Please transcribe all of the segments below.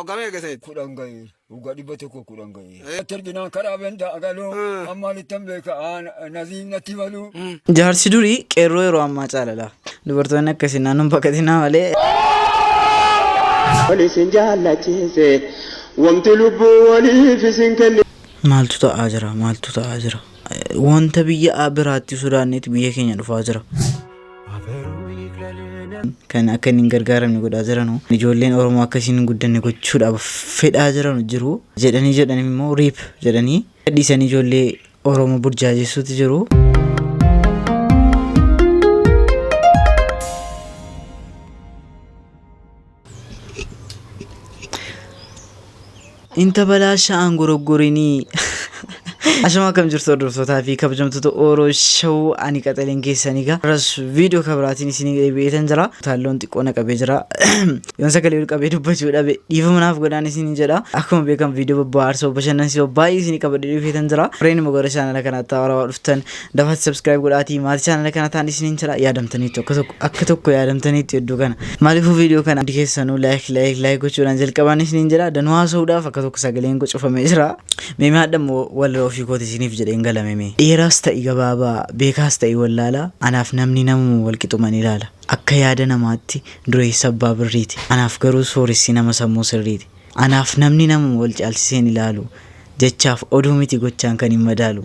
Waggaa meeqa keessa jirti? kudhan ga'eera. Waggaa dhibba tokko kudhan ga'eera. Eh. Achi arginaan karaa bendaa agaloo Mm. ammaan ittan beeka aan naziin natti maluu. Jaarsi durii qeerroo yeroo ammaa caalala. Dubartoonni akkasii naannoon baqatinaa malee. Wal isin jaallachiise wanti lubbuu waliif isin kenne. Maaltu ta'aa jira? Maaltu ta'aa jira? Eh, Wanta biyya a- biraatti sodaanneeti biyya keenya dhufaa jira. kan akka inni hin gargaaramne godhaa jiranu ijoolleen oromoo akka isiin hin guddanne gochuudhaaf fedhaa jiranu jiru jedhanii jedhanii immoo riip jedhanii gadhiisanii ijoollee oromoo burjaajessuutti jiru. Inta balaa sha'aan goroggorinii. Ashama akkam jirtu hordoftoota fi kabajamtoota Oro Show ani qaxaleen keessanii gaa. Irras viidiyoo kabiraatiin isin deebi'eetan jira. Taalloon xiqqoo na qabee jira. Yoon sagalee ol qabee dubbachuu dhabe dhiifama naaf godhaan isin jedha. Akkuma beekamu viidiyoo bobba'aarsa bashannansiisoo baay'ee isin qabadhee dhufeetan jira. Warreen immoo gara chaanala kanaatti haarawaa dhuftan Dafati subscribe godhaatii maati channel kana taan isiniin jira yaadamtaniitu akka tokko akka tokko yaadamtaniitu hedduu kana maaliifuu viidiyoo kana hundi keessanuu like like like gochuudhaan jalqabaan isiniin jira danuu haasa'uudhaaf akka tokko sagaleen koo cufamee jira meemee hadhammoo walirra ofii kooti isiniif jedheen galameme dheeraas ta'i gabaabaa beekaas ta'i wallaalaa anaaf namni namuma walqixuman ilaala akka yaada namaatti dureessa abbaa birriiti anaaf garuu sooressi nama sammuu sirriiti anaaf namni namuma wal caalchiseen ilaalu jechaaf oduu miti gochaan kan hin madaalu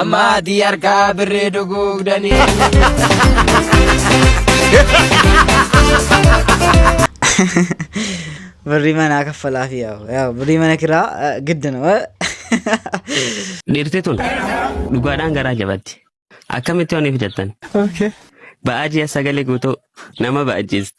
Amma ati harkaa birrii duguugdanii. Birrii manaa kaffalaa fi yaa'u. Yaa'u birrii mana kiraa eh, giddina. eh. Dhiirti tun dhugaadhaan garaa jabatti. Akkamitti waan fidattan? Ba'aa ji'a sagalee guutuu nama ba'achiisti.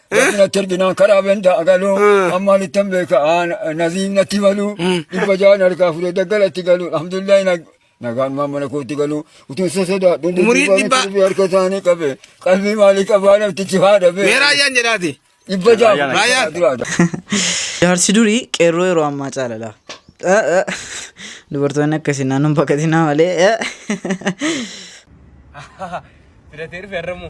Rabbina terginaan karaa benda agaluu ammaan ittan beeka naziin natti maluu dhibba ja'an harkaa fudhee daggala itti galuu alhamdulillahi nagaan maan mana kootti galuu utuu isa sodaadhu Umurii dhibba. harka isaanii qabe qalbii maalii qabaa namtichi haa dhabe Mee raayyaan jedhaati. dhibba ja'a Raayyaan. duraadha. Jaarsi durii qeerroo yeroo ammaa caalala. Eh, eh. Dubartoonni akkasii naannoon baqatinaa malee. eh. Filatee dhufe har'ammoo.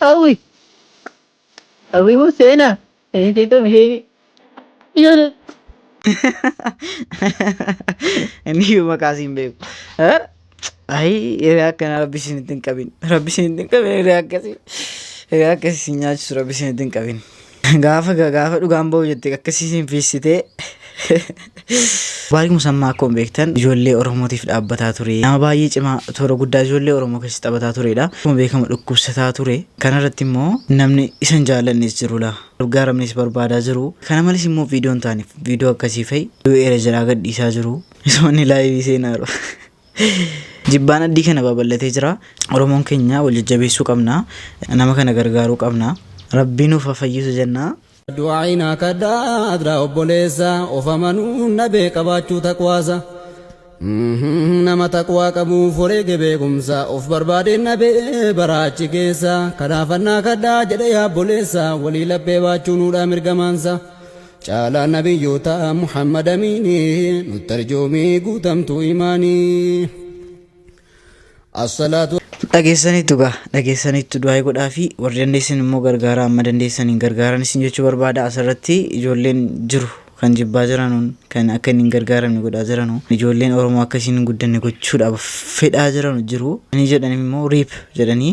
Awi. Awi mo sena. Eh dito mi. Yun. Inni iyyuu maqaa siin beeku. Eh? Ayi hiree akkana rabbi isin ittiin qabin. Rabbi isin ittiin qabin hiree akkasii. Hiree akkasii isin nyaachisu rabbi isin ittiin qabin. Gaafa ga- gaafa dhugaan ba'u jette akkasii siin fiissitee. Baarik Musammaa akkuma beektan ijoollee Oromootiif dhaabbataa ture. Nama baay'ee cimaa toora guddaa ijoollee Oromoo keessa taphataa turedha. Akkuma beekamu dhukkubsataa ture. Kanarratti immoo namni isa hin jaallannes jiru laa. Gargaaramnis barbaadaa jiru. Kana malees immoo viidiyoon taaniif viidiyoo akkasii fa'i du'eera jedhaa gadhiisaa jiru. Misoonni laayivii seenaaru. Jibbaan addii kana babal'atee jira. Oromoon keenya wal jajjabeessuu qabna. Nama kana gargaaruu qabna. Rabbii nuuf haa fayyisu jenna. Du'aayi naa kadhaa adraa obboleessa Of amanuun dhabee qabaachuu taqwaasa Nama taqwaa qabuuf wareege beekumsa Of barbaadeen dhabee baraa achi keessa Kanaafan naa kadhaa jedhe yaa obboleessa Walii laphee baachuu nuudhaa mirga maansa Caalaa nabiyyootaa Muhammad Amiini nutti arjoomii guutamtuu imaani. Assalaatu Dhageessaniittu gaa dhageessaniittu du'aa godhaa fi warri dandeessan immoo gargaaraa amma dandeessaniin gargaaran isin jechuu barbaada asirratti ijoolleen jiru kan jibbaa jiranuun kan akka inni hin gargaaramne godhaa jiranu ijoolleen oromoo akka isin hin guddanne gochuudhaaf fedhaa jiranu jiru ani jedhan immoo riip jedhanii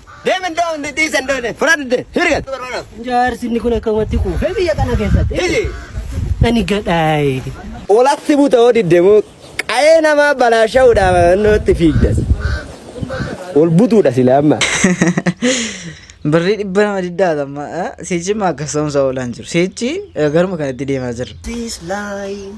Deem iddoo hundi dhiisa hin doone. Fudhadde hirgat. Jaarsi inni kun akkamatti kuufee biyya kana keessatti. Iji. Ani gadhaa'e. Olatti buta hoo didde moo qa'ee namaa balaasha'uudhaaf naannootti fiigdas. Ol butuudha sila amma. Birrii dhibba nama diddaa amma siichi immoo akka soomsa oolaan jiru. Siichi garuma kanatti deemaa jirra. This line.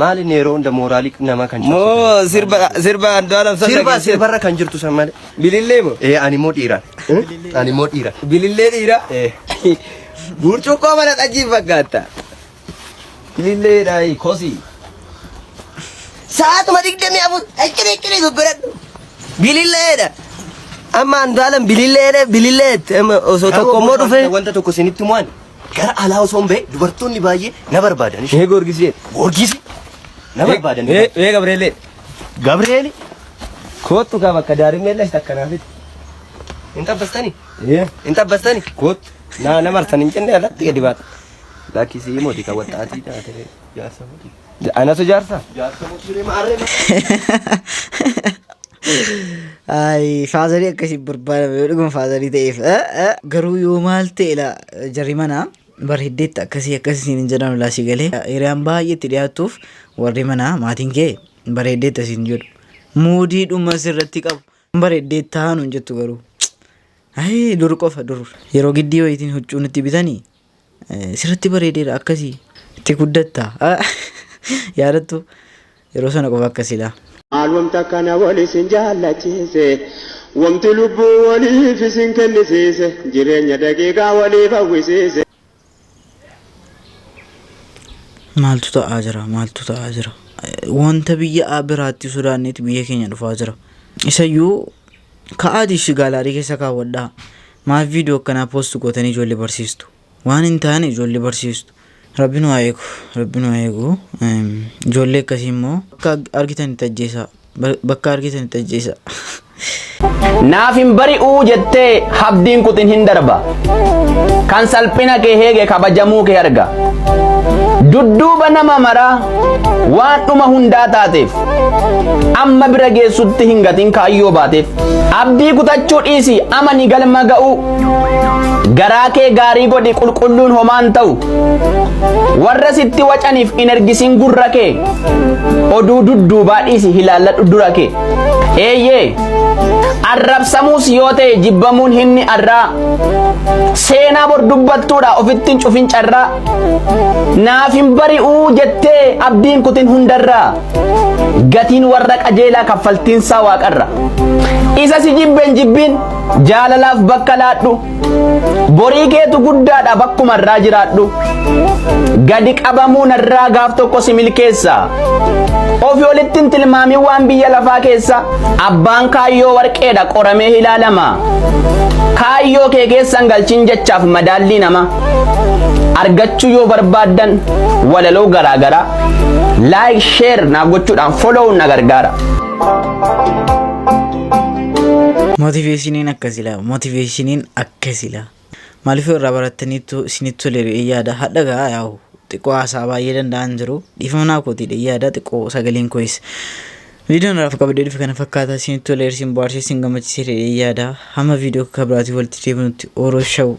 Maal inni yeroo hunda mooraalii nama kan cabsitan? Moo sirba sirba Andu'aalam san Sirba dhageessee? sirbarra kan jirtu san malee. Bilillee moo? Ee ani immoo dhiira. Ani immoo dhiira. Bilillee dhiira? Ee. Burcuqqoo mana xajjiin fakkaatta. Bilillee dhaayi kosii. Sa'aatuma digdamii afur akkana akkana goggoradhu. Bililleedha. Amma Andu'aalam bililleedha bililleetti. Amma osoo tokko immoo dhufee. Wanta tokko isinitti mo'an. Gara alaa osoo hin ba'e dubartoonni baay'ee na barbaadan. Ee Goorgisee. Goorgisi na barbaadan. Ee ee Gabreelee. Gabreeli. Koottu kaa bakka daarimmee lashi takka naaf itti. Hin xabbastani? Ee. Hin xabbastani? Koottu. Naa na martan hin jenne alatti gadi baata. Lakkisii mooti kan waxxaatii taate jaarsa mooti. Anatu jaarsa. Jaarsa musliim arre. Ay, faazarii akkasii barbaadame yoo dhuguma faazarii ta'eef. Garuu yoo maal ta'e la jarri manaa bar hiddeetti akkasii akkasii siin hin jedhamu laa si galee. Hiriyaan baay'ee itti dhiyaattuuf warri manaa maatiin kee bareeddeetti asiin jedhu. Muudii dhuma sirratti qabu. Bareeddee taanu hin jettu garuu. Ay, dur qofa dur. Yeroo giddii wayitiin huccuu nutti bitanii Sirratti bareedeera akkasi. Itti guddatta. Yaadattu yeroo sana qofa akka silaa. Maal wamta akkana wal isin jaallachiise Wamti lubbuu waliif isin kennisiise Jireenya daqiiqaa waliif hawwisiise. Maaltu ta'aa jira maaltu ta'aa jira wanta biyya biraatti sodaanneeti biyya keenya dhufaa jira isayyuu Ka'aatii ishii gaalaarii keessa kaawwadhaa. Maaf viidiyoo akkanaa post gootanii ijoollee barsiistu? Waan hin taane ijoollee barsiistu. Rabbi nu haa eegu. Rabbi nu haa eegu. Eem, Ijoollee akkasii immoo bakka argitan itti ajjeesaa. Ba- Bakka argitan itti ajjeesaa. Naaf hin bari'uu jettee habdiin kutin hin darba. kan salphina kee heege kabajamuu kee arga dudduuba nama maraa waan dhuma hundaa taateef amma bira geessutti hin gatin kaayyoo baateef abdii kutachuu dhiisi amani galma ga'uu garaa kee gaarii godhi qulqulluun homaan ta'u warra sitti wacaniif hin ergisin gurra kee oduu dudduubaa dhiisi hilaalladhu dura kee Eeyyee, arrabsamuus yoo ta'e jibbamuun himni arraa seenaa bor dubbattuudha ofitti hin cufin carraa naaf hin bari'uu jettee abdiin kutin hundarraa gatiin warra qajeelaa kaffaltiinsaa waaqarra isa si jibben jibbiin jaalalaaf bakka laadhu Borii keetu guddaadha bakkuma irraa jiraadhu. Gadi qabamuu narraa gaaf tokko si milkeessa. Ofi olitti hin tilmaamin waan biyya lafaa keessa abbaan kaayyoo warqeedha qoramee ilaalama. Kaayyoo kee keessan galchin jechaaf madaallii nama. Argachuu yoo barbaaddan walaloo garaagaraa like share naaf gochuudhaan follow na gargaara. Motiveeshiniin akkas ilaa. Motiveeshiniin akka sila. Maaliif yoo irraa barattaniittu isinitti tole re'ee yaada hadha gaa yaa'u xiqqoo haasaa baay'ee danda'an jiru dhiifamnaa kootiidha yaada xiqqoo sagaleen koyis viidiyoon irraaf qabadee dhufe kana fakkaata isinitti tole isin bohaarsee isin gammachiise re'ee yaada hamma viidiyoo akka biraatii walitti deebinutti ooroo shawuu